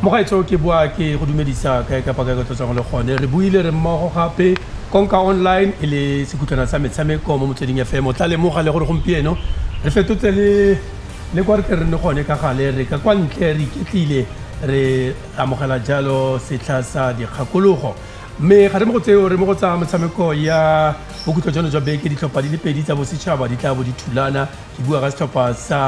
mogaetsho ke boa ke go dumedisa kae kapa kae kotlo tsang le gone re buile re mmogo gape konka online e le sekhutlwana sa metshameko mo motsweding fm o tla lemoga le gore gompieno re fetotse le le kwa re tle re ne gone ka gale re ka kwa ntle re iketlile re amogela jalo setlha sa dikgakologo mme ga re mo go tseo re mo go tsaya metshameko ya bokhutlo jano jwa beke ditlhopha di le pedi tsa bosetšhaba di tla bo di thulana ke bua ka setlhopha sa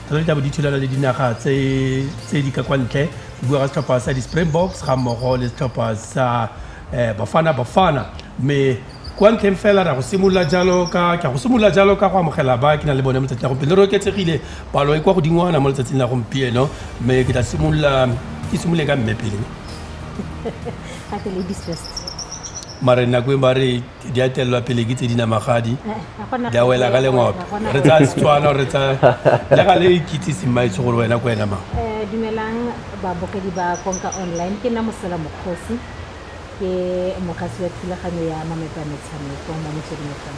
tsone di tla bo di thulana le dinaga tse di ka kwa ntle ke bua ka setlhopha sa di-springboks ga mmogo le setlhopha sa um bafana bafana mme kwa ntlheng fela ra go simolola jalo ka ka go simolola jalo ka go amogela ba ke na le bone mo tsatsing la gompieno re oketsegile palo e kwa godingwana mo letsatsing la gompieno mme ke tla simolola ke simolole ka mme pele ga ke ladies first mare nako e ba re di a telelwa pele ke tse di namagadi Eh, ga gona di a wela ka lengwape Ga gona re tsaya setswana re tsaya le ga le ikitsise mmaetse gore wena ko wena mang Eh, dumelang babogedi ba konka online ke nna mosela mokgosi Ke mogasi wa thulaganyo ya mamepa a metshameko mo motsweding FM.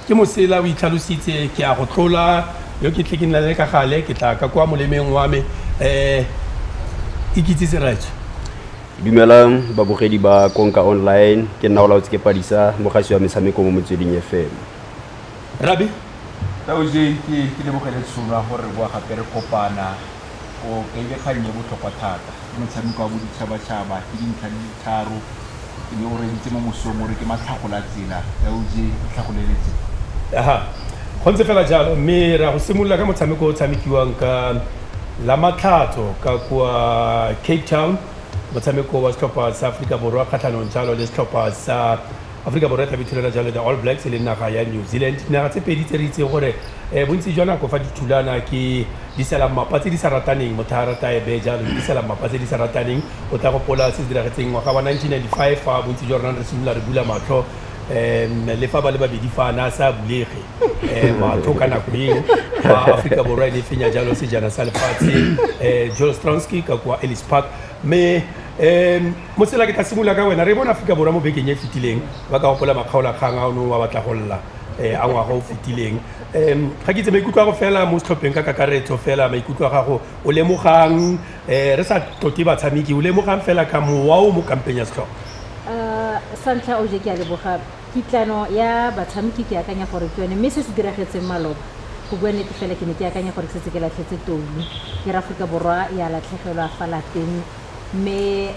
Ke mosela, o itlhalositse. Ke a go tlola yo ke tle ke nna le ka gale, ke tla ka kwa molemeng wa me. Ikitsise rraetsho. Dumelang babogedi ba Konka Online, ke nna Olaotse ke Padisa, mogasi wa metshameko mo motsweding FM. Rabi, Tau Jay, ke lebogele tshono ya gore re boa gape re kopana. o kaile kgang e botlhokwa thata. Ke motshameko wa boditšhabatšhaba, ke dintlha di le tharo, e be o reditse mo mosong o re ke matlhagolatsela. LJ, itlhagolele tsela. Aha, go ntse fela jalo, mme re ya go simolola ka motshameko o o tshamekiwang ka Lamatlhatso ka kwa Cape Town, motshameko wa setlhopha sa Aforika Borwa kgatlhanong jalo le setlhopha sa Aforika Borwa e tlabe e thulela jalo the All Blacks le naga ya New Zealand, dinaga tse pedi tse re itseng gore um bontsi jwa nako fa di thulana ke di sela mmapa tse di sa rataneng. Motho a rata a e beye jalo, di sela mmapa tse di sa rataneng. O tla gopola se se diragetseng ngwaga wa 1995 fa bontsi jwa rona re simolola re bula matlho um le fa ba le babedi fa na sa bulege um matlho ka nako eo fa Aforika Borwa e ne e fenya jalo sejana sa lefatshe um Joel Stransky ka kwa Ellis Park. mme um motsela ke tla simolola ka wena re bona aforika borwa mo bekeng e fetileng ba ka gopola makgaolakgang a o neng wa batla go lla um a ngwaga o fetileng um ga ke itse maikutlo a go fela mo setlhopheng ka kakaretso fela maikutlo a gago o lemogang um re sa tlote batshameki o lemogang fela ka mowa o mo kampeng ya setlhopha sa ntlha o je ke a leboga Kitlano ya batshamki ke akanya gore ke yone mme se se diragetseng maloba, go bua nnete fela ke ne ke akanya gore ke setse ke latlhetse toulu ke re Aforika Borwa ya latlhegelwa fa lapeng mme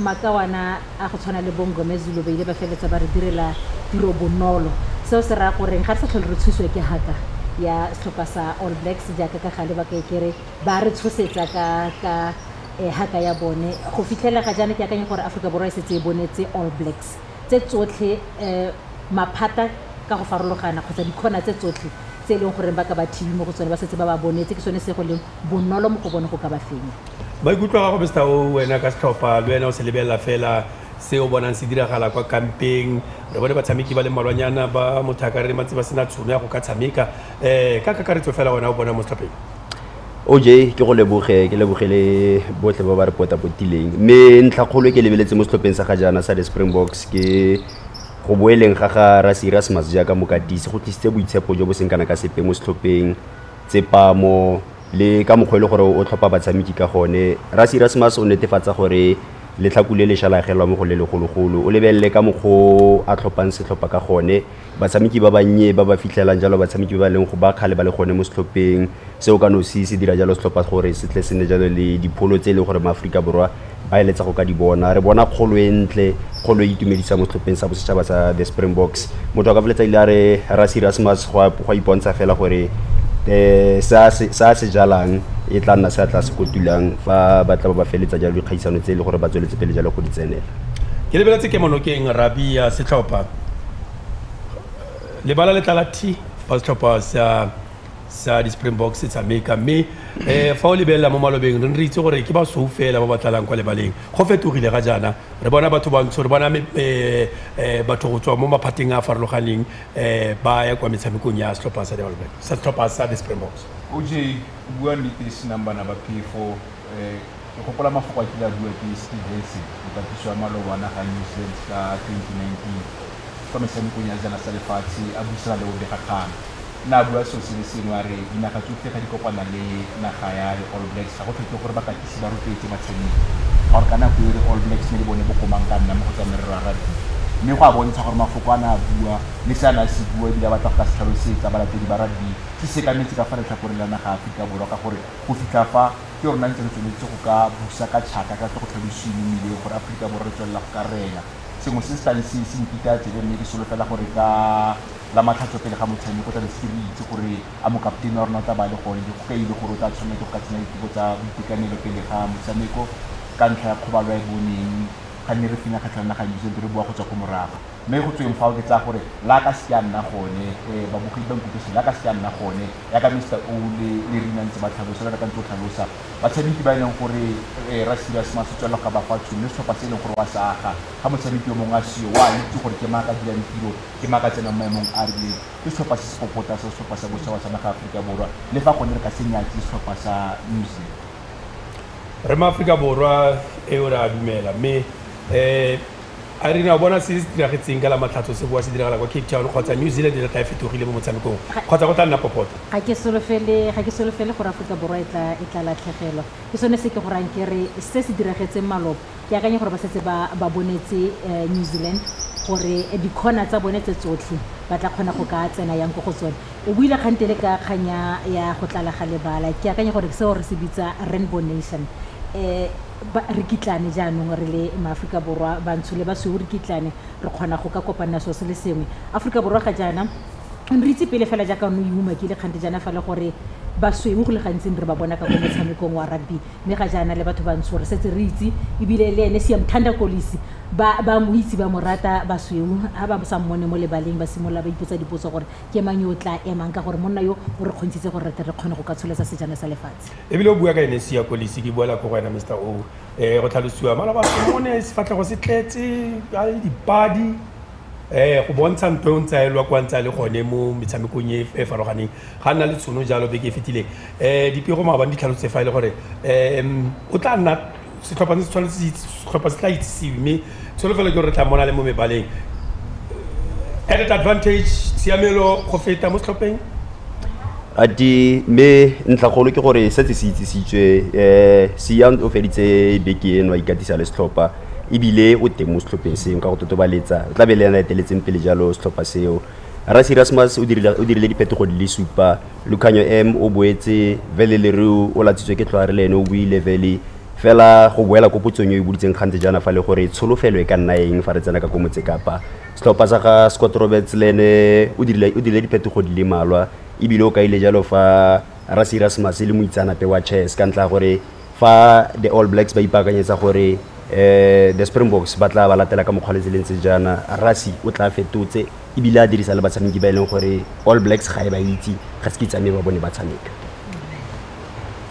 makawana a go tshwana le bo Mngomezulu ba ile ba feleletsa ba re direla tiro bonolo. Seo se raya goreng ga re sa tlhole re tshosiwa ke haka ya setlhopha sa All Blacks jaaka ka gale ba ka e ke re ba re tshosetsa ka ka haka ya bone. Go fitlhelela ga jaana ke akanya gore Aforika Borwa e setse e bonetse All Blacks. tse tsotlhe maphata ka go farologana kgotsa dikgona tse tsotlhe tse e leng gore ba ka ba thibi mo go tsone ba setse ba ba bonetse ke sone se go leng bonolo mo go bone go ka ba fenya. Maikutlo a gago Mister O, wena ka setlhopha le wena o se lebelela fela se o bonang se diragala kwa kampeng. Re bone batshameki ba le mmalwanyana ba mothaka re re ba ntse ba sena tshono ya go ka tshameka. Ka kakaretso fela wena o bona mo setlhopheng? oj ke go leboge ke leboge le botlhe ba ba re potapotileng mme ntlha kgolo e ke lebeletse mo setlhopheng sa ga jaana sa the springboks ke go boeleng ga ga rasirasmas jaaka mokatisi go tlisitse boitshepo jo bo seng kana ka sepe mo setlhopheng tsepamo le ka mokgwa e le gore o tlhopha batshameki ka gone rasirasmas o netefatsa gore letlhaku le le šalagelwa mo go le legologolo o lebelele ka mokgwa o a tlhophang setlhopha ka gone batshameki ba bannye ba ba fitlhelang jalo batshameki ba ba leng gore ba kgale ba le gone mo setlhopheng. Seo ka nosi se dira jalo setlhopha gore se tle se nne jalo le dipholo tse e leng gore maAforika Borwa ba eletsa go ka di bona. Re bona kgolo e ntle, kgolo e itumedisa mo setlhopheng sa bosetšhaba sa the Springboks. Motho a ka feletsa ile a re Rassie Erasmus go a ipontsha fela gore um se a se jalang e tla nna se a tla se kotulang fa ba tla ba ba feletsa jalo dikgaisano tse e leng gore ba tsweletse pele jalo go di tsenela. Ke lebeletse kemonokeng Rabie ya setlhopha. lebala le tlala thi ba setlhopha sa sa di-springboks sa meka mme um fa o lebelela mo malobeng re ne re itse gore ke basweu fela ba ba tlalang kwa lebaleng go fetogile ga jaana re bona batho bantsho re bona um batho go tswa mo maphateng a a farologaneng um ba ya kwa metshamekong ya setlhopha sa dimalobeng sa setlhopha sa di-springboks oj bua nnete senang bana ba phefo um Ke gopola mafoko a kile a bua ke Steve Hesse, mokatiso wa maloba wa naga ya New Zealand ka 2019 kwa metshamekong ya sejana sa lefatshe a buisana le bobegakgang. O ne a bua seo se le sengwe a re dinaga tsotlhe ga di kopana le naga ya di-All Blacks ga go tlhokege gore bakatisi ba rotloetse batshameki ka gore ka nako eo di-All Blacks ne le bone bokomang ka nna mo go tsa merero ya rugby mme go a bontsha gore mafoko a ne a bua le se a ne a se bua ebile a batla go ka se tlhalosetsa balatedi ba rugby se sekametse ka fa letlhakoreng la naga ya Aforika Borwa ka gore go fitlha fa ke rona ntse re tsweletse go ka busa ka tšhaka ka tle go tlhalosiwe mo mmileng gore aforika borwa re tswelela go ka rena sengwe se se tlabe se se mpitaya tsebe mme ke solofela gore ka la matlhatso pele ga motshameko tlabe se re itse gore a mokapotene wa rona o tla ba le gone go ka ile gore o tla tshwanela ke go ka tsenya diteko tsa boitekanelo pele ga motshameko ka ntlha ya kgobalo ya e boneng ga nne re fenya kgatlha naga new zealand re boa go tswa ko morago mme go tsweng fao ke tsaya gore la ka se a nna gone um babogedi ba nkutlwise la ka se a nna gone yaka mr o le le rina ntse ba tlhalosa le reka ntse o tlhalosa batshameki ba e leng gore um ra serious ma se tswelelo ga ba fa tšhono le setlhopha se e leng gore wa se aga ga motshameki yo mongwe a seyo wa itse gore ke maaka dirang tiro ke maaka tsenang maemong a rileng ke setlhopha se se popota sa setlhopha sa bosa wa sa naga aforika borwa le fa gone re ka se nyatse setlhopha sa new zealand re maaforika borwa eo re a dumela mme um A re ne a bona se se diragetseng ka la Matlhatso se boa se diragala kwa Cape Town kgotsa New Zealand e tla tla e fetogile mo motshamekong kgotsa go tla nna popota. Ga ke solofele, ga ke solofele gore Aforika Borwa e tla, e tla latlhegelwa. Ke sone se ke go rayang ke re se se diragetseng maloba, ke akanya gore ba setse ba, ba bonetse New Zealand gore di-corner tsa bone tse tsotlhe ba tla kgona go ka tsena yang ko go tsone. O buile kgante le ka kgang ya, ya go tlala ga lebala. Ke akanya gore ke seo re se bitsa rainbow nation. Ba, re kitlane jaanong re le maAforika Borwa, bantsho le basweu re kitlane, re kgona go ka kopanna seo se le sengwe. Aforika Borwa ga jaana, re itse pele fela jaaka one o e umakile kgante jaana fa le gore basweu go le gantsi ne re ba bona ka ko motshamekong wa rugby, mme ga jaana le batho bantsho re setse re itse, e bile le ene Siyamthanda Kolisi ba, ba mo itse, ba mo rata. Basweu ha ba sa mmone mo lebaleng ba simolola ba ipotsa dipotso gore ke mang yo o tlaa emang, ka gore monna yo o re kgontshitse gore re tle re kgone go ka tsholetsa sejana sa lefatshe. ebile o bua ka ene sia kolisi ke buela ko go wena mr o um go tlhalosiwa malabaone sefatlhego se tletse a le dipadi um go bontsha ntho e o ntse a elwa kwa ntse a le gone mo metshamekong e e farologaneng ga nna le tshono jalo beke e fetileng um dipego maabane di tlhalotse fa e le gore um o tla nna setlhopha se tshwanetse setlhopha se tla itsisiwe mme tsholofelo ke gore re tla mona le mo mebaleng added advantage tshiamelo go feta mo setlhopheng a di mme ntlhagolo ke gore setse se itsisitswe um seyant o feditse beke eno a ikatisa le setlhopha ebile o teng mo setlhopheng seo ka go totobaletsa o tla be le ena eteletseng pele jalo setlhopha seo rasi rasmus o dirile diphetogo di le supa Lukhanyo M o boetse Vele Leroux o latsitswe ke tlhware le ene o buile Vele fela go boela ko potsong e o e budutseng gantsi jaana fa le gore tsholofelo e ka nna eng fa re tsena ka ko Motsekapa. Setlhopha sa ga Scott Roberts le ene o dirile o dirile diphetogo di le malwa ebile o kaile jalo fa Rassie Erasmus e le moitseanape wa chess ka ntlha ya gore fa the all blacks ba ipaakanyetsa gore um the springboks ba tla ba latela ka mokgwa le tseleng tse jaana rasi o tla fetotse ebile a dirisa le batshameki ba e leng gore all blacks ga e ba itse ga se ke tsamaye ba bone ba tshameka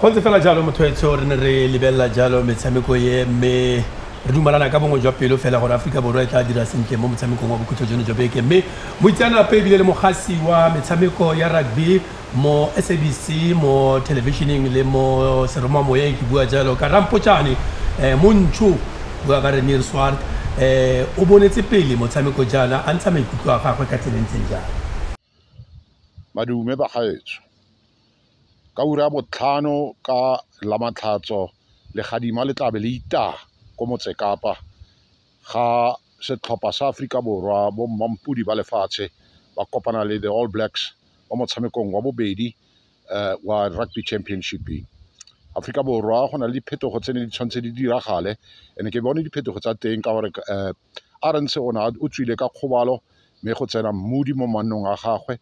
go ntse fela jalo motho etsho re ne re lebelela jalo metshameko e mme re dumalana ka bongwe jwa pelo fela gore aforika borwa e tla dira sentle mo motshamekong wa bokhutlo jono jwa beke mme moitseanape ebile le mogasi wa metshameko ya rugby Mo SABC, mo thelebišeneng le mo seromamoyeng ke bua jalo ka Rampotšane um Montsho, bua ka Renier Swart um o bonetse pele motshameko jaana a ntsha maikutlo a gagwe ka tsela e ntseng jang. Madume bagaetsho, ka ura ya botlhano ka Lamatlhatso legadima le tlabe le itaya ko Motsekapa ga setlhopha sa Aforika Borwa bo mmampodi ba lefatshe ba kopana le the All Blacks mo motshamekong wa bobedi um wa rugby championship. Aforika Borwa go na le diphetogo tse ne di tshwanetse di diragale and-e ke bone diphetogo tsa teng ka gore um Arendse o ne o tswile ka kgobalo mme go tsena mmudi mo mannong a gagwe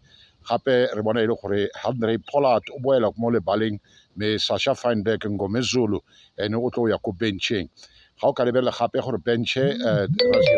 gape re bona e le gore Handrey Pollard o boela mo lebaleng mme Sasha Feinberg Ngomezulu ene o tlo ya ko bencheng ga o ka lebelela gape gore benche eh,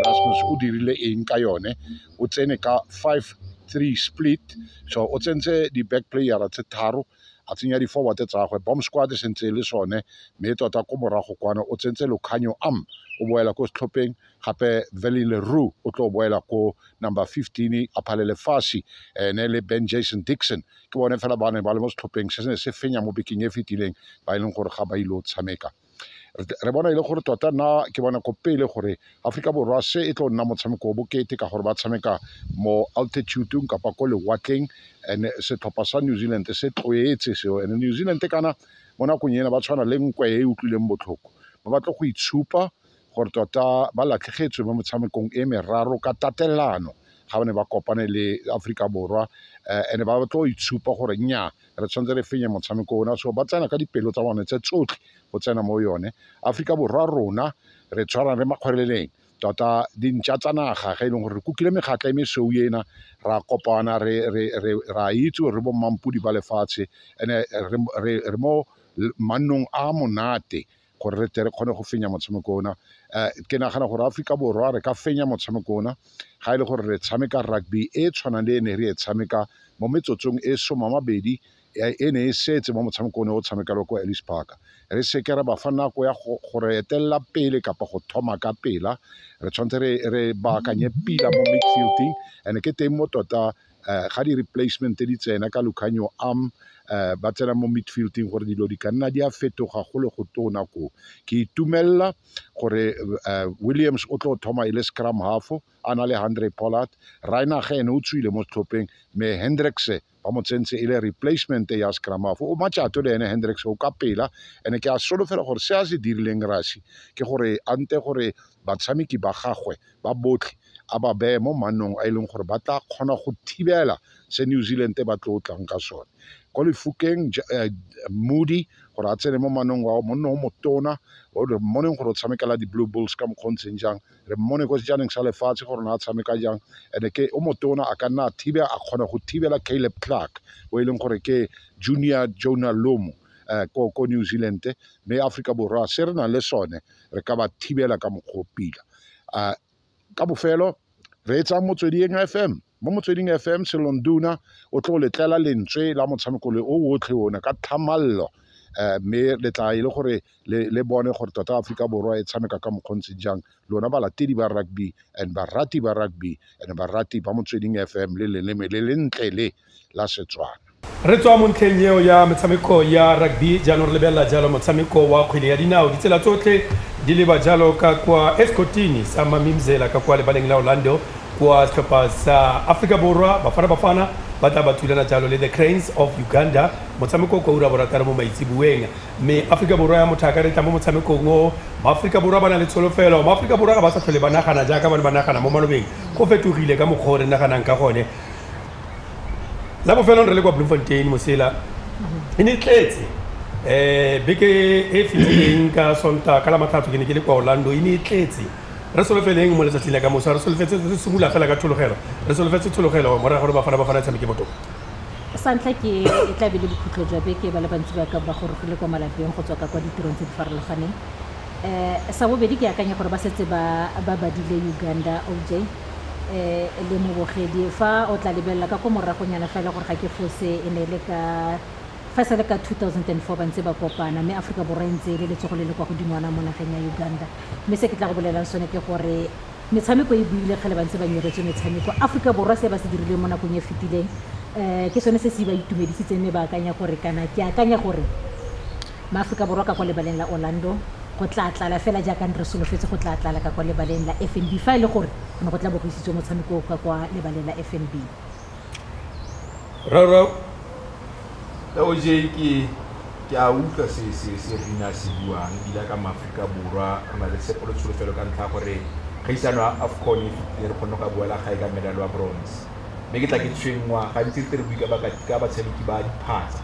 Rasmus o dirile eng ka yone o tsene ka 5 3 split so o tsentse di-back playera tse tharo a tsenya di-forward tsa gagwe bomb squad e sentse e le sone mme tota ko morago kwana o tsentse lokganyo am o boela ko setlhopheng gape Valley Leroux o tlo boela ko number 15 a phale lefashi ene le Ben Jason Dixon ke bone fela ba ne ba le mo setlhopheng se ne se fenya mo bekeng e fetileng ba e leng gore ga ba ile o tshameka re bona e le gore tota na ke bona ko pele gore aforika borwa se e tlo nna motshameko o bokete ka gore ba tshameka mo altitudeng kapa ko lewatleng and setlhopha sa new zealand se tloetse seo and new zealand kana mo nakong ena ba tshwana le nkwe e utlwileng botlhoko ba batla go itshupa gore tota ba latlhegetswe mo motshamekong e meraro ka tatelano ga ba ne ba kopane le Aforika Borwa eh, and ba tlo itshupa gore nya re tshwanetse re fenye motshameko ona so ba tsena ka dipelo tsa bone tse tsotlhe go tsena mo yone Aforika Borwa rona re tshwarang re makgweleleng tota dintša tsa naga ga e leng gore re kukile mekgatla e mesweu ena ra kopana ra itse gore re bommampodi ba lefatshe ande re mo mannong a monate gore re tle re kgone go fenya motshameko ona um ke nagana gore aforika borwa re ka fenya motshameko ona ga e le gore re tshameka rugby e e tshwanang le e ne re e tshameka mo metsotsong e soma mabedi e ne e setse mo motshameko one o tshamekelwa ko alice park re seke ra ba fa nako ya go re etelela pele kapa go thoma ka pela re tshwanetse re baakanye pila mo midfielding and ke teng mo tota um ga di-replacement di tsena ka Lukhanyo Am um ba tsena mo midfield-ing gore dilo di ka nna di a fetoga go le go tona ko ke itumelela gore um williams o tlo thoma e le scrum halfo a na le hundred pollard rainage ene o tswile mo setlhopheng mme hendricse ba mo tsentse e le replacement ya scrum halfo o matšato le ene hendricse o ka pela ene ke a solofela gore se a se dirileng rasi ke gore ante gore batshameki ba gagwe ba botlhe a ba beye mo mannong a e leng gore ba tla kgona go thibela se New Zealand ba tlo tlang ka sone ko lefukeng eh, moody gore a tsene mo manong wa monne o motona re mmoneng gore o tshamekela di-blue bulls ka mokgwa o ntseng jang re mmone ko sejaneng sa lefatshe gore ne a tshameka jang and ke o motona a ka nna a thibe a kgona go thibela caleb clark o e leng gore ke junior jonah lomo eh, ko, ko new zealand mme africa borwa se re nang le sone re ka ba thibela ka mokgwa o pila uh, ka bofelo re e tsaya motsweding fm mo motsweding fm selonduna o tlo letlela lentswe la motshameko le o otlhe one ka tlhamallo um mme le tla e le gore le bone gore tota aforika borwa e tshameka ka mokgontse jang lona balatedi ba rugby and barati ba rugby and barati ba motsweding fm le leleme le lentle le la Setswana. Re tswa mo ntlheng eo ya metshameko ya rugby, jaanong re lebelela jalo motshameko wa kgwele ya dinao. Ditsela tsotlhe di leba jalo ka kwa Esikotini sa Mamimzela ka kwa lebaleng la Orlando kwa setlhopha sa Aforika Borwa, Bafana Bafana, ba tla ba thulana jalo le The Cranes of Uganda, motshameko o kwa ura ya borataro mo maitseboeng. Mme Aforika Borwa ya motho a ka re tla mo motshamekong o, Maaforika Borwa ba na le tsholofelo. Maaforika Borwa ga ba sa tlhole ba nagana jaaka ba ne ba nagana mo malobeng, go fetogile ka mokgwa o re naganang ka gone. la bofelong re le kwa bloemfontein mosela e ne tletse um beke e fitileng ka sonta ka la matlhatso ke ne ke le kwa orlando e ne e tletse re solofeleng mo letsatsing la ka mosa re solofetse re simolola fela ka tshologelo re solofetse tshologelo morago gore bafana bafana e tshameke botoka sa ntlha ke e tlabe le bokhutlo jwa beke ba le bantsi ba ka ba gore go le kwa malapeng go tswa ka kwa ditirong tse di farologaneng um sa bobedi ke akanya gore ba setse ba badile uganda oj le mobogedi fa o tla lebelela ka ko moragonyana fela gore ga ke fose e ne e le ka fa e sa le ka 2004 ba ntse ba kopana mme aforika borwa e ntse e le letsogo le le kwa godingwana mo nageng ya uganda mme se ke tla go bolelang sone ke gore metshameko e buile kgale ba ntse ba nyeretswe metshameko aforika borwa se ba se dirileng mo nakong e fetileng um ke sone se se ba itumedisitseng mme ba akanya gore kana ke akanya gore Maaforika Borwa ka kwa lebaleng la Orlando go tlaa tlala fela jaaka ne re solofetse go tlaa tlala ka kwa lebaleng la FNB fa e le gore go ne go tla bo go isitswe motshameko o ka kwa lebaleng la FNB. Rraagwe ka o jee ke ke a utlwa se se se Rina a se buang ebile a ka Maaforika Borwa re na le tshepo le tsholofelo ka ntlha ya gore kgaisano ya Afcon e e fetileng re kgonne go ya boela gae ka medal wa bronze. mme ke tla ke tshwenngwa gantsi ntse re bui ka batshameki ba diphatsa.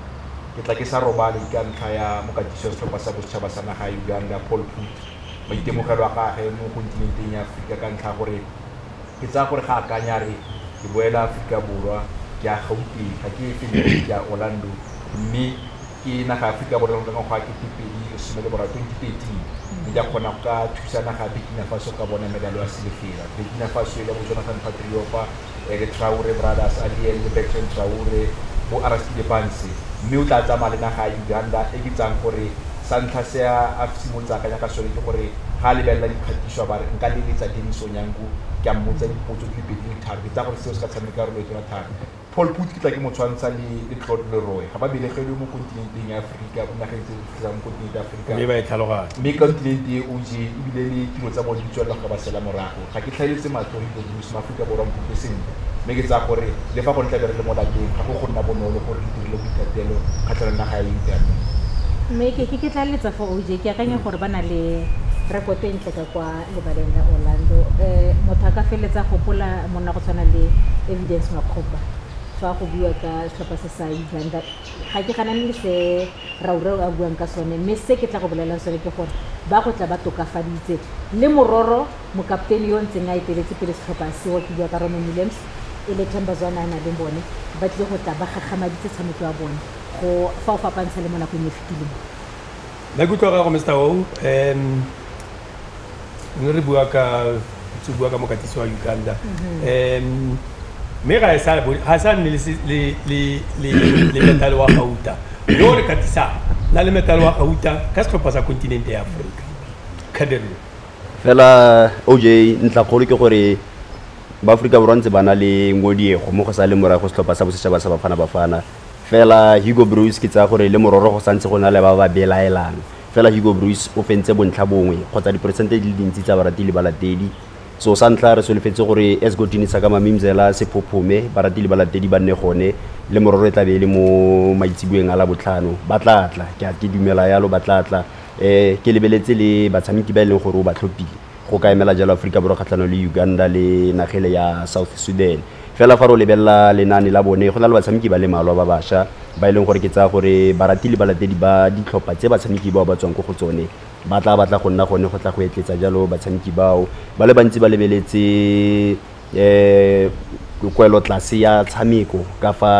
Ke tla ke sa robale ka ntlha ya mokatisi wa setlhopha sa bosetšhaba sa naga ya Uganda, Paul Put, maitemogelo a gage mo kontinenteng ya Aforika ka ntlha ya gore ke tsaya gore ga akanya re ke boela Aforika Borwa, ke ya Gauteng, ga ke efe Limpopo, ke ya Orlando mme ke naga ya Aforika Borwa ka ngwaga wa 2013, mme di a kgona go ka thusa naga ya Burkina Faso go ka bona medalo ya silefera. Burkina Faso e lebotse Jonathan Patriopa, Eric Traore, Brothers Aliel le Bertrand Traore, bo Arastide Banse, mme o tla tsamaya le naga ya Uganda e ke tsayang gore sa ntlha se a simolotse a akanya ka sone ke gore ga a lebelela dikgatiso a ba re nka leletsa Denis Onyango ke a mmotsa dipotso di le pedi di le tharo, ke tsaya gore seo se ka tshameka karolo e tona thata. Paul Put ke tla ke mo tshwantsha le, le Claude Leroy. Ga ba belegelwe mo kontinenteng ya Aforika, mo nageng tse di tlhotlhelang mo kontinente ya Aforika. Mme ba e tlhaloganya. Mme kontinente e OJ, ebile le tiro tsa bone di tswelela go ka ba sela morago. Ga ke tlhaeletse matlho go itse Bruce, Maaforika Borwa nkutlwe sentle. Mme ke tsaya gore le fa gone tlabe re le mo lapeng, ga go go nna bonolo gore re itirele boithatelo kgatlhanong le naga ya Italy. Mme ke, ke, ke tlaleletsa fa OJ, ke akanya gore ba na le rekoto e ntle ka kwa. lebaleng la Orlando. Motho a ka feleletsa a gopola monna go tshwana le Evidence Makgopa fa go buiwa ka setlhopha se sa England. Ga ke ganane le se Raureo a buang ka sone, mme se ke tla go bolelelang sone ke gore ba go tla ba tokafaditse. Le mororo mokaptene yo o ntseng a eteletse pele setlhopha seo, ke bua ka Roman Williams, e le Themba Zwane a na le bone, ba tlile go tla ba gagamaditse tshameko ya bone go fa o fapantsha le mo nakong e fetileng. Maikutlo a gago Mister Hou. ne re bua ka tse bua ka mokatisi wa Uganda mhm. em me ga e sa ga sa nne le le le le metal wa gauta yo re katisa na le metal wa gauta ka setlhopha sa kontinente ya Afrika khaderlo fela OJ ntla kgolo ke gore ba Afrika borwa ntse ba na le ngodiego mo go sa le morago setlhopha sa bosetšhaba sa bafana bafana fela Hugo Bruce ke tsaya gore le mororo go santse go na le ba ba belaelang Fela Hugo Broos o fentse bontlha bongwe kgotsa diperesente di le dintsi tsa barati le balatedi. So sa ntlha re solofetse gore Esgotini Saka Mamimzela se phophome, barati le balatedi ba nne gone. Lemororo e tla be e le mo maitseboeng a Labotlhano. Ba tla tla, ke a ke dumela yalo ba tla tla. Ke lebeletse le batshameki ba e leng gore o ba tlhophile. go ka emela jalo Aforika Borwa kgatlhanong le Uganda le nagele ya South Sudan fela fa re o lebelela lenane la bone go na le batshameki ba le malwa ba basha ba e leng gore ke tsaya gore barati le balatedi ba ditlhopha tse batshameki bao ba tswang ko go tsone ba tla batla go nna gone go tla go etletsa jalo batshameki bao ba le bantsi ba lebeletse um kwelotlase ya tshameko ka fa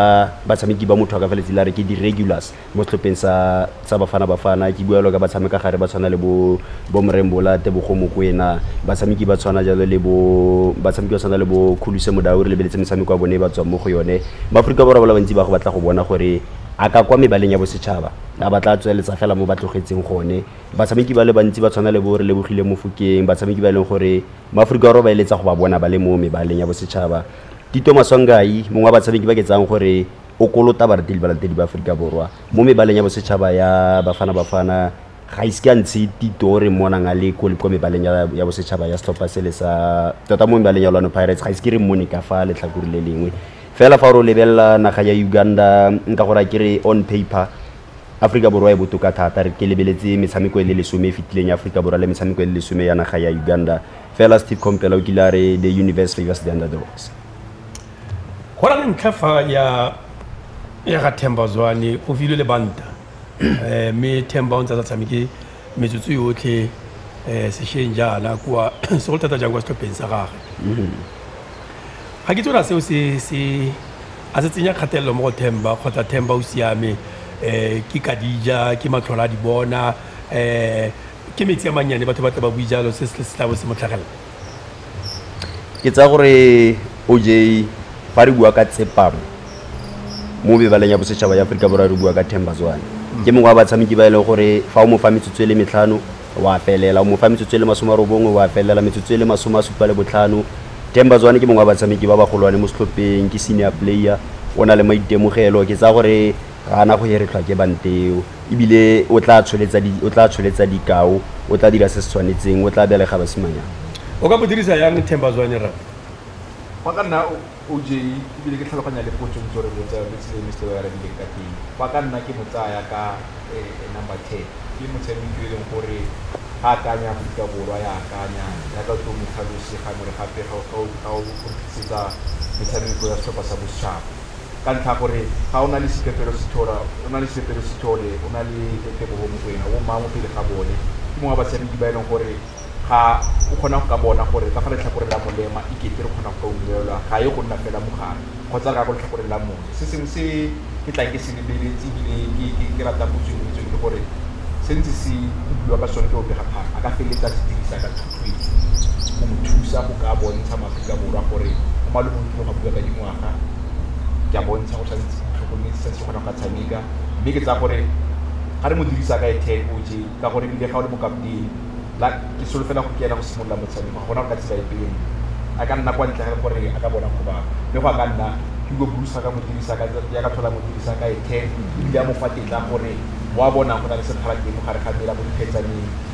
batshameki ba motho a ka feletse la re ke di-regulars mo setlhopheng sa sa Bafana Bafana ke bua jalo ka batshameka gare ba tshwana le bo bo Mrembola Tebogo Mokoena batshameki ba tshwana jalo le bo batshameki ba tshwana le bo Khuluse Modau re lebeletse metshameko ya bone ba tswang mo go yone Maaforika Borwa ba le bantsi ba go batla go bona gore a ka kwa mebaleng ya bosetšhaba a ba tla tsweletsa fela mo ba tlogetseng gone batshameki ba le bantsi ba tshwana le bo re Lebogile Mofokeng batshameki ba e leng gore Maaforika Borwa ba eletsa go ba bona ba le mo mebaleng ya bosetšhaba Tito Maswanganyi mongwe wa batshameki ba ke tsayang gore o kolota baratedi balatedi ba Aforika Borwa mo mebaleng ya bosetšhaba ya Bafana Bafana ga ise ka ntshe tito re monang a le ko kwa mebaleng ya, ya bosetšhaba ya setlhopha sele sa tota mo mebaleng ya Orlando Pirates ga ise ke re mmone ka fa letlhakore le lengwe fela fa o lebelela naga ya Uganda nka gore ke re on paper Afrika Borwa e botoka thata re ke lebeletse metshameko e le lesome e fetileng ya Afrika Borwa le metshameko e le lesome ya naga ya Uganda fela Steve Compela o kile a re the universe favors the underdogs go na le ntlha fa ya ya ga themba zwane o filwe le banta um mme themba o ntse a sa tshameke metsotso yotlhe um sešweng jaana kwa segolo thata jang kwa setlhopheng sa gage ga ke tsona seo se se a se tsenya kgatelelo mo go themba kgotsa themba o siame um ke kadija ke matlhola a di bona um ke metsi a mannyane batho ba tla ba bui jalo se se tla bo se motlhagelela Ke tsaya gore O_J fa re bua ka tsepamo mo mebaleng ya bosetšhaba ya Aforika Borwa re bua ka Themba Zwane. Ke mongwe wa batshameki ba e leng gore fa o mo fa metsotso e le metlhano o a felela, o mo fa metsotso e le masome a robongwe o a felela, metsotso e le masome a supa le botlhano. Themba Zwane ke mongwe wa batshameki ba bagolwane mo setlhopheng, ke senior player, o na le maitemogelo. Ke tsaya gore Ga a na go heretlhwa ke bante eo, e bile o tla tsholetsa, o tla tsholetsa dikao, o tla dira se se tshwanetseng, o tla belega basimanyana. O ka bo dirisa yang Themba Zwane rra? Fa ka nna OJ, e bile ke tlhaloganya le potso ntse o re botsa yone, tsela e Mister o arabileng ka teng, fa ka nna ke mo tsaya ka number ten, ke motshameki yo e leng gore ga a kanya Aforika Borwa ya akanya, jaaka o tlo mo tlhalose gangwe le gape ga o go tlisetsa metshameko ya setlhopha sa bosetšhaba. ka ntlha ya gore ga o na le sipepelo sithole, o na le sipepelo sithole, o na le tebogo mo go ena, o mangwe pele ga bone. Ke mongwe wa basadidi ba e leng gore ga o kgona go ka bona gore ka fa letlhakoreng la molema e kete re kgona go ka ungwelwa, ga ye go nna fela mo gare kgotsa re ya ko letlhakoreng la moja. Se sengwe se ke tlang ke se lebeletse ebile ke ratang go tsweng mo itseng ke gore se ntse se buiwa ka sone ke bobegaphara a ka feleletsa se dirisa ka thuthuetso go mo thusa go ka bontsha maAforika Borwa gore go maloboloki go bua ka dingwao. ke a bontsha go tshwanetse ke tlhokometse sa se kgonang ka tshameka mme ke tsa gore ga re mo dirisa ka ethek o je ka gore ebile ga o le mokaptene la ke solofela go ke ena go simolola motshameko ga gona go ka tsela e pele a ka nna kwa ntle ga gore a ka bona go bangwe mme go a ka nna ke go busa ka mo dirisa ka ya ka tlhola mo dirisa ka ethek ebile a mo fa tetla gore wa bona go na le sekgala teng mo gare ga mela mo diphetsaneng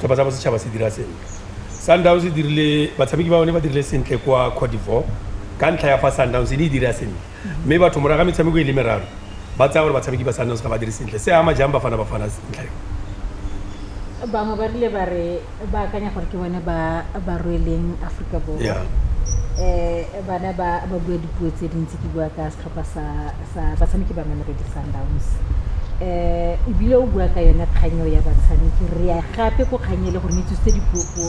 setlhopha sa bosetšhaba se dira sentle. Sundowns e dirile batshameki ba bone ba dirile sentle kwa Cote d'Ivoire ka ntlha ya fa Sundowns e ne e dira sentle mme batho morago ga metshameko e le meraro ba tsaya gore batshameki ba Sundowns ga ba dire sentle. Se ama jang Bafana Bafana ntlha eo? Bangwe ba rile ba re ba akanya gore ke bone ba ba rweleng Aforika Borwa. Yeah. um bana ba ba bua dipuo tse dintsi ke bua ka Setlhopha sa batshameki ba Mamelodi Sundowns o bile o bua ka yone kgang eo ya batshameki. Re ya gape ko kgang e le gore ne tsositse dipuo-puo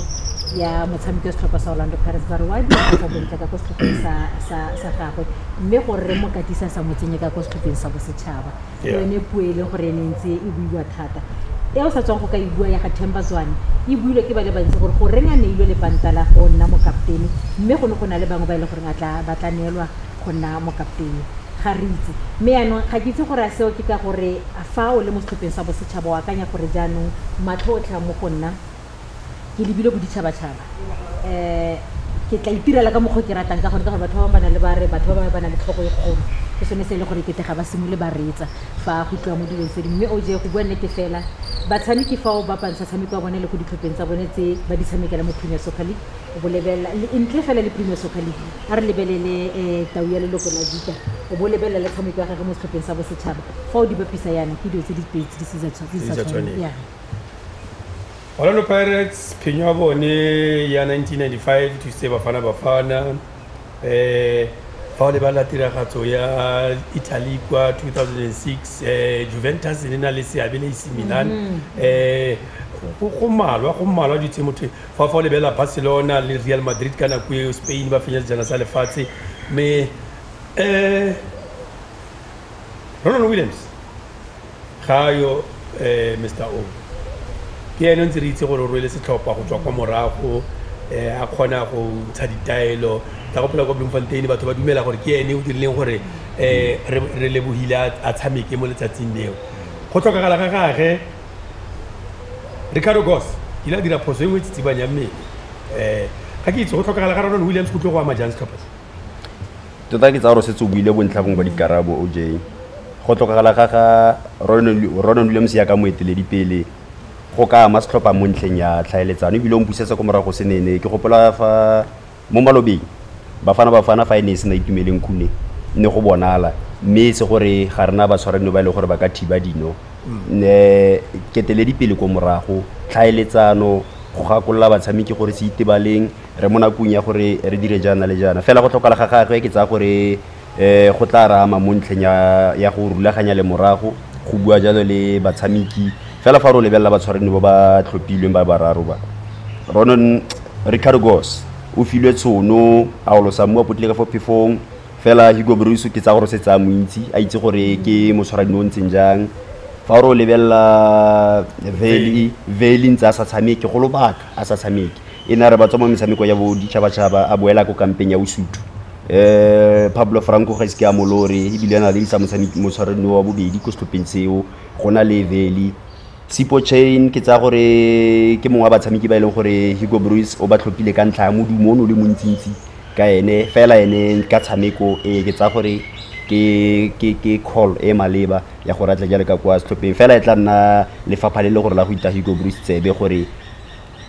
ya motshameki wa setlhopha sa Orlando Pirates ba re wa disa bontle ka ko setlhopheng sa gagwe mme gore re mo katisa sa mo tsenye ka ko setlhopheng sa bosetšhaba ke yone puo e leng gore e ne ntse e buiwa thata e o sa tswang go ka e bua ya ga Themba Zwane e builwe ke ba le bantsi gore goreng a neilwe lepanta la go nna mokaptene mme go ne go na le bangwe ba e leng gore ba tla neelwa go nna mokaptene. Ga re itse. Mme jaanong, ga ke itse gore a seo ke ka gore fa o le mo setlhopheng sa bosetšhaba o akanya gore jaanong matlho otlhe a mo go nna, ke lebile boditšhabatšhaba, ke tla itirela ka mokgwa o ke ratang ka gone, ka gore batho ba bangwe ba na le ba re batho ba bangwe ba na le tlhogo e kgolo, ke sone se e leng gore e kete ga ba simolole ba reetsa fa go tliwa mo dilong tse dingwe. Mme OJ, go bua nnete fela, batshameki fa o bapantsha tshameko ya bone le ko ditlhopheng tsa bone tse ba di tshamekela mo Premier Soccer League, o bo lebelela ntle fela le premier soccer league a re lebelele um tau ya leloko la vita o bo lebelela le tshameko ya gage mo setlhopheng sa bosetšhaba fa o di bapisa yana ke dilo tse di pedi tse di sa tshwa- tse di sa Tse di sa tshwaneng. tshwaneng. Yeah. Orlando Pirates phenyo ya bone ya 1995 e thusitse Bafana Bafana eh fa o lebelela tiragatso ya Italy kwa 2006 eh Juventus e ne e na le seabe le AC Milan eh go go malwa go malwa di tse motho Fa fa o lebelela Barcelona le Real Madrid ka nako eo, Spain ba fenya sejana sa lefatshe, mme um Ronwen Williams ga a yo um Mister O, ke ene o ntse re itse gore o rwele setlhopha go tswa kwa morago, um a kgona go ntsha ditaelo tsa go phela kwa Bloemfontein. Batho ba dumela gore ke ene o dirileng gore um Relebohile a tshameke mo letsatsing leo. Go tlhokagala ga gage. ricardo gos ke ile a dira phoso e nngwe e tsitsibanya mmele um ga ke itse go tlhokagala ga rona le williams go tlo go ama jang setlhopha tota ke tsa gore setse o buile bontlhabong ba dikarabo o j go tlhokagala ga ga ronan williams ya ka moeteledipele go ka ama setlhopha mo ntlheng ya tlhaeletsano ebile o mpusetsa ko morago se nene ke gopola fa Mo malobeng, Bafana Bafana fa e ne e sena Itumeleng Khune, ne go bonala, mme e se gore ga re na batshwaranio ba e leng gore ba ka thiba dino. Nne keteledipele ko morago, tlhaeletsano, go gakolola batshameki gore se itebaleng, re mo nakong ya gore re dire jaana le jaana. Fela go tlhokala ga gagwe, ke tsaya gore um go tla re ama mo ntlheng ya go rulaganya le morago go bua jalo le batshameki fela fa re o lebelela batshwareni ba ba tlhophilweng ba bararo ba ronon ricardo gos o filwe tshono a olosa mo a potlile ka fo phefong fela higo bruso ke tsa gore se tsaya montsi a itse gore ke motshwarani o ntseng jang fa re o lebelela veli ntse a sa tshameke go lobaka a sa tshameke e ne a re ba tswa mo metshameko ya bo ditšhabatšhaba a boela ko kampeng ya Usuthu um Pablo Franco ga ise ke a molore ebile a na le isa motshwaredi wa bobedi ko setlhopheng seo go na le Veli Sipo Chain ke tsaya gore ke mongwe wa batshameki ba e leng gore Hugo Bruce o ba tlhophile ka ntlha ya modumo o ne o le montsintsi ka ene fela ene ka tshameko e ke tsaya gore ke ke ke call e maleba ya gore a tle jalo ka kwa setlhopheng fela e tla nna lefapha le le gore la go ita Hugo Bruce tsebe gore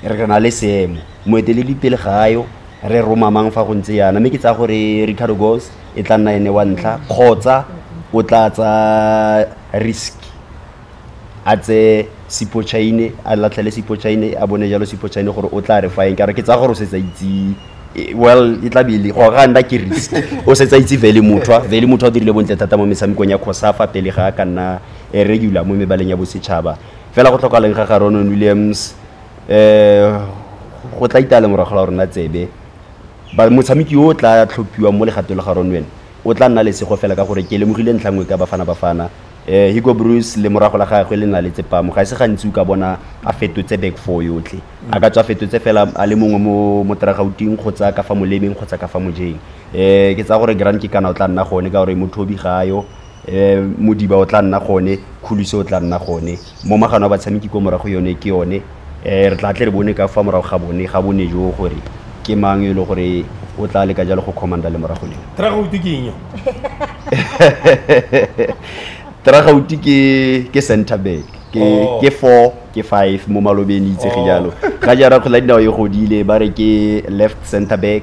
re na le seemo moeteledipele ga yo re romamang fa go ntse yana mme ke tsaya gore ricardo gos e tla nna ene wa ntlha kgotsa o tla tsa risk a tse sipochaine a latlhele sipochaine a bone jalo sipochaine gore o tla re fa eng ka re ke tsaya gore o setsa itse e- well e tla bele go ga nna ke risk o setsa itse vele mothwa vele mothwa o dirile bontle thata mo metshamekong ya khosafa pele ga a ka nna eh, regular mo mebaleng ya bosetšhaba fela go tlhokaleng ga ga Ronon Williams um go tla itale morago la rona tsebe motshameki yo o tla tlhophiwang mo legatong la ga Ronwen o tla nna lesego fela ka gore ke lemogile ntlha nngwe ka bafana bafana um higo bruce le morago la gagwe le na le tsepamo ga e se gantsi o ka bona a fetotse back four yotlhe a ka tswa fetotse fela a le mongwe mo mo teragauting kgotsa ka fa molemeng kgotsa ka fa mojeng um ke tsaya gore grand ke kana o tla nna gone ka gore mothobi ga yo um modiba o tla nna gone kgoluse o tla nna gone mo magano a batshameki ko morago yone ke yone um re tla tle re bone ka fa morago ga bone ga bone jo gore ke mang e le gore o tla leka jalo go commanda le morago leo tragauti ke eng tragauti ke ke center back ke oh. ke 4 ke 5 mo malobeng itsege oh. jalo ga jara kgola dinao e godile ba re ke left center back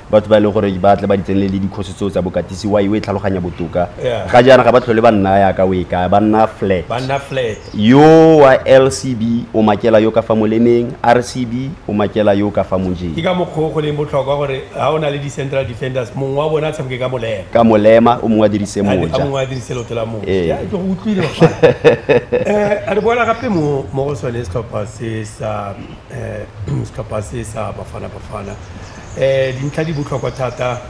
batho ba e leng gore ba tle ba di tsenelele dikgosi tseo tsa bokatisi wa iwe e tlhaloganya botoka Yeah. ga jaana ga ba tlhole ba nna yaka o e kaya ba nna flat ba nna flat yo wa lcb o makela yo ka fa molemeng rcb o makela yo ka fa ke mojeng ka mokgwa o go leng botlhokwa gore ga o na le di-central defenders mongwe wa bone a tshameke ka molema ka molema o mongwe a dirise a a moja mongwe a dirise leoto la moja Ee. Ya, ke go utlwile um re boela gape mo mo go sone setlhopha se sa um setlhopha se sa bafana bafana um dintlha di botlhokwa thata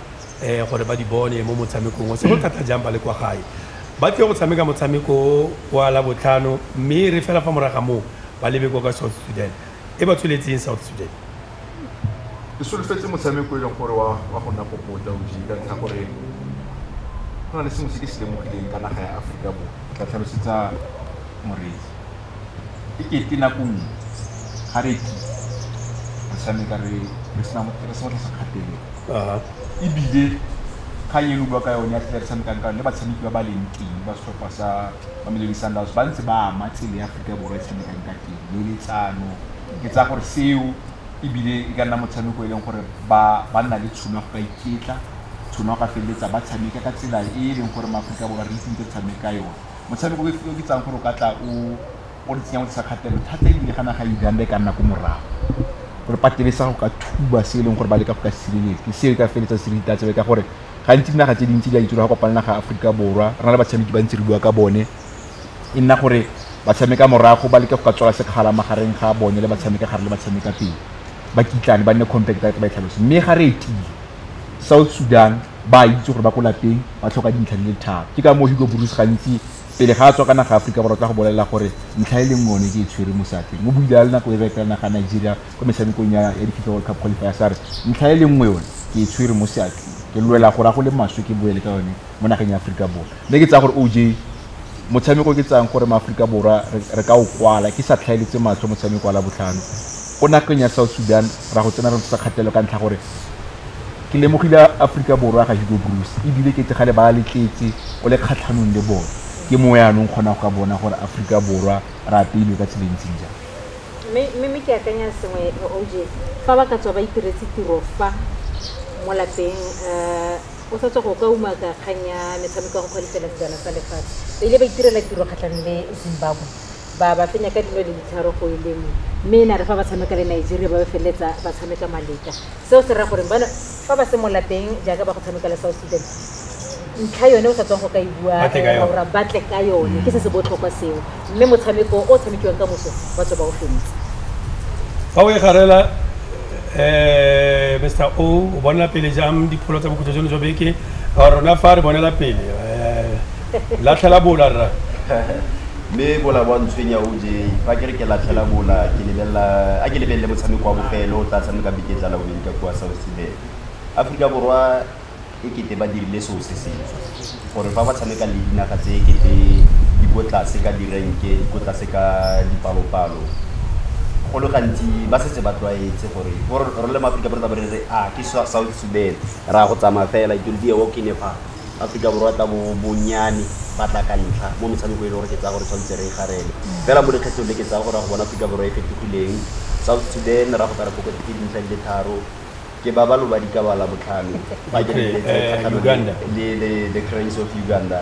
um gore ba di bone mo motshamekong o se go thata jang ba le kwa gae ba tlile go tshameka motshameko o kwa la botlhano mme re fela fa moraga moo ba lebe kwa ka south sudan e ba tsholetseng south sudan e solofetse motshameko e leng gore wa go nna popota o jee ka ntlha gore go na le sengwe se ke se lemogileng ka naga ya aforika borwa tla tlhalosetsa moreetsi e kete nako nngwe ga re ke re tshameka re re sena mo- re se mo tlase kgatelelo Aha. ebile kgang eno bua ka yone ya tlhela re tshamekang ka yone le batshameki ba ba leng teng ba setlhopha sa mamelodi sundowns ba ntse ba ama tsela ya aforika borwa e tshamekang ka teng le letsano ke tsaya gore seo ebile e ka nna motshameko e leng gore ba ba nna le tshono ya go ka iketla tshono ya go ka feleletsa ba tshameka ka tsela e e leng gore maaforika borwa re itse ntse re tshameka ka yone Motshameko o o ke tsayang gore o ka tla o o re tsenya o tlisa kgatelelo thata ebile ga naga ya Uganda e ka nna ko morago gore patele sa go ka thuba se e leng gore ba leka go ka sireletsa ke seo e ka feleletsa se re itatsebe ka gore gantsi dinaga tse dintsi di a itse gore ga kopana naga ya Aforika Borwa re na le batshameki ba ntse re bua ka bone e nna gore ba tshameka morago ba leke go ka tswala sekgala magareng ga bone le ba tshameka gare le ba tshameka pele ba kitlane ba nne compact ba e tlhalose mme ga re etile South Sudan ba a itse gore ba ko lapeng ba tlhoka dintlha di le tharo ke ka moo Hugo Broos gantsi pele ga a tswa ka naga Aforika Borwa tla go bolelela gore ntlha e leng one ke e tshwere mo seatleng o buile a le nako e re etela naga Nigeria kwa metshamekong ya ya di-FIFA World Cup qualifiers a re ntlha e le nngwe yone ke e tshwere mo seatleng ke lwela gore a go le maswe ke boele ka yone mo nageng ya Aforika Borwa mme ke tsaya gore OJ motshameko ke tsayang gore maAforika Borwa re ka o kwala ke sa tlhaeletse matlho motshameko wa Labotlhano Ko nageng ya South Sudan ra go tsena re ntshotsa kgatelelo ka ntlha gore ke lemogile Aforika Borwa ga Hugo Broos ebile ke tegale ba letletse o le kgatlhanong le bone. Ke mo yaanong kgona go ka bona gore Aforika Borwa re apeilwe ka tsela e ntseng jang. Mme, mme, mme ke akanya sengwe, OJ, fa ba ka tswa ba itiretse tiro fa mo lapeng, uh, o sa tswa go ka umaka kgang ya metshameko ya go kgwalifela sejana sa lefatshe. Ba ile ba itirela tiro kgatlhanong le Zimbabwe. ba ba fenya ka dino le ditharo go e lengwe mme e na re fa ba tshameka le nigeria ba ba feleletsa ba tshameka maleka seo se raya gore bana fa ba se molapeng jaaka ba go tshameka le south sudan ntlha yone o sa tswang go ka e bua Ba tle ka yone. ra batle ka yone ke se se botlhokwa seo mme motshameko o tshamekiwang ka moso ba tswa ba o fentse fa o e garela um mr o o bonela pele jang dipholo tsa bokhutlo jono jwa beke a rona fa re bonela pele um latlhela bola rra Mme go la bo a ntshwenya OJ. Fa ke re ke latlhela bola, ke lebelela, a ke lebelele motshameko wa bofelo o tla tshamekang beke e tlang la bobedi ka kua South Sudan. Aforika Borwa e kete ba dirile seo se setswe, gore fa ba tshameka le dinaga tse e kete di ko tlase ka direnke, di ko tlase ka dipalopalo, go le gantsi ba setse ba tlwaetse gore bo rona le maAforika Borwa re tla bo re re, a ke South Sudan, re a go tsamaya fela, it will be a walk in the park. Aforika Borwa tla bo bonnyane ba tla ka ntlha mo metshamekong e le gore ke tsaya gore tshwanetse re e garele. Fela mo lekgetlhong le ke tsaya gore ra go bona Aforika Borwa e fetogileng, South Sudan ra go ka re fokotse ke dintlha di le tharo, ke ba ba lo ba dikabala botlhano fa ke lebeletse the Cranes of Uganda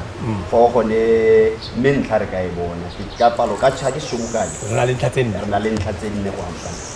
foo gone mme ntlha re ka e bona ka palo ka ke sobokane re na le ntlha tse nne go amogela.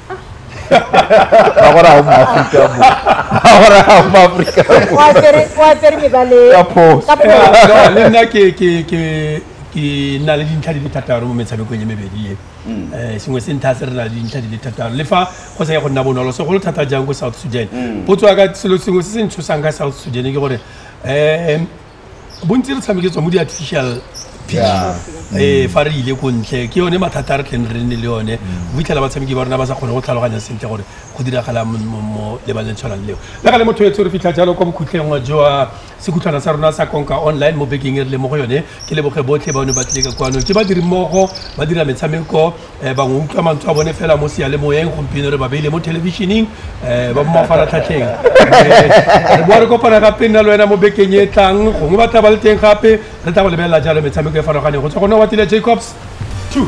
agora arruma África agora arruma África kwasere mebale ka phoso le nna ke ke ke ke nna le dintlha di le thataro mo metshamekong ya mebedi e um sengwe se ntha se re na le dintlha di le thataro le fa go sa ye go nna bonolo segolo thata jang ko south sudan potso ya ka selo sengwe se se ntshosang ka south sudan ke gore um bontsi re tshameke tswa mo di-artificial Yeah. ee fa re ile ko ntle ke yone mathata a re tleng re nne le yone Mm. o fitlhela batshameki ba rona ba sa kgone go tlhaloganya sentle gore go diragala mo- mo mo lebaleng le tshwanang leo le ka le motho etse re fitlha jalo kwa bokhutlheng jwa sekhutlhwana sa rona sa konka online mo bekeng e re le mo go yone ke leboge botlhe ba ne ba tlile ka kwano ke badiri mmogo ba dira metshameko um bangwe utlwa mantswe a bone fela mo sealemoyeng gompieno re ba beile mo thelebišeneng um ba mo mafaratlhatlheng re boa re kopana gape nna le wena mo bekeng e tlang gongwe ba tla ba le teng gape re tla go lebelela jalo metshameko e farologaneng go tswa gone wa tile jacobs two